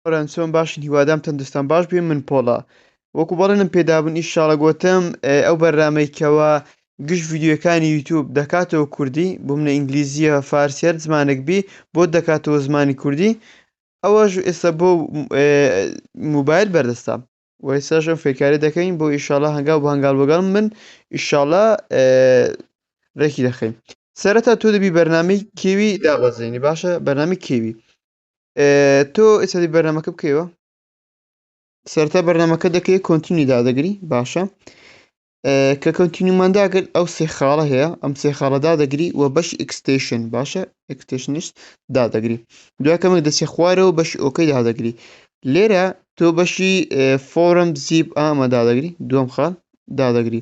برام چۆن باشن هیوادام تەندستان باش بێ من پۆڵا وەکو بەڵێنم پێدابن ئیشاڵە گۆتم ئەو بەرنامەی کەوە گشت ڤیددیوەکانی یوتوب دەکاتەوە کوردی بۆ منە ئینگلیزیە فارسیەر زمانێک بی بۆ دەکاتەوە زمانی کوردی ئەوەش ئێستا بۆ موبایل بەردەستە وەیساش ئەم فێکارە دەکەین بۆ ئیشاڵە هەنگاو بە هەنگال بەگەڵ من ئیشاڵە ڕێکی دەخەین سەرەتا تۆ دەبی بەرنامی کێوی دابەزێنی باشە بەرنامی کێوی تۆ ئێستا بەرنامەکە بکەیەوە سەرتا بەرنمەکە دەکەی کۆنتینی دادەگری باشە کە کەوتینیمانداگرت ئەو سێ خاڵە هەیە ئەم سێ خاڵەدا دەگری و بەش ئکسستشن باشە ئکسستشنش دادەگری دوکەمێک دەچێ خوارەوە بەش ئۆکەی دادەگری لێرە تۆ بەشی فۆرم زیب ئامە دادەگری دوم خاڵ دادەگری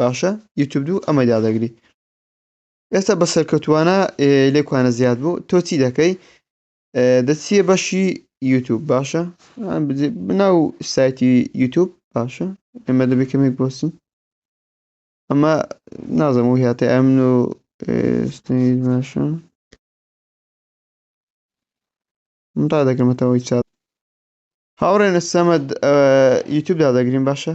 باشە یوتوب دوو ئەمە دادەگری ئێستا بە سەرکەوتوانە لێکوانە زیاد بوو تۆ چی دەکەی دەچیە بەشی یوتوب باشە بناو سایتی یوتوب باشە ئێمە دەبێ کەمێک بۆسین ئەمە نازم و هاتە ئەمن و باشە من تا دەکەمەتەوەی چات هاوڕێنە سەمەد یوتوب دادەگرین باشە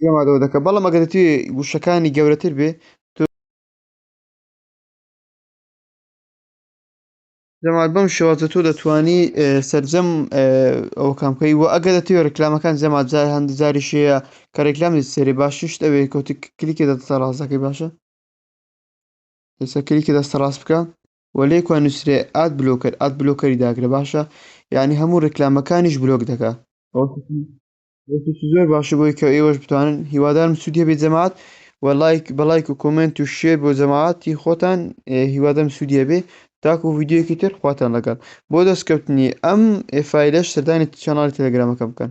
پێمادەوە دەکە بەڵام ئەگەر توێ گوشەکانی گەورەتر بێ جەمال بەم شێوازە تۆ دەتانی سرجەم ئەو کامکەی وە ئەگەر دەتوێ ڕکلامەکان جەمات جار هەندی جاری شەیە کە ڕێکلامی سێری باشیشت ئەوێ کەوتی کلیکی دەتە ڕاستەکەی باشە ئێستا کلیکی دەستە ڕاست بکە و لێ کوا نوسرێ ئاد بلۆکەر ئاد بلۆکەری داکرە باشە یانی هەموو ڕیکلامەکانیش بلۆک دەکا. ڕێکێکی زۆر باشە بۆی کە ئێوەش بتوانن هیوادارم سوودی هەبێت جەماعەت و لایک بە لایک و کۆمێنت و شێر بۆ جەماعەتی خۆتان هیوادارم سوودی هەبێ تاکو ڤیدیۆیەکی تر خواتان لەگەڵ بۆ دەستکەوتنی ئەم فایلەش سەردانی چەناڵی تێلێگرامەکەم بکەن.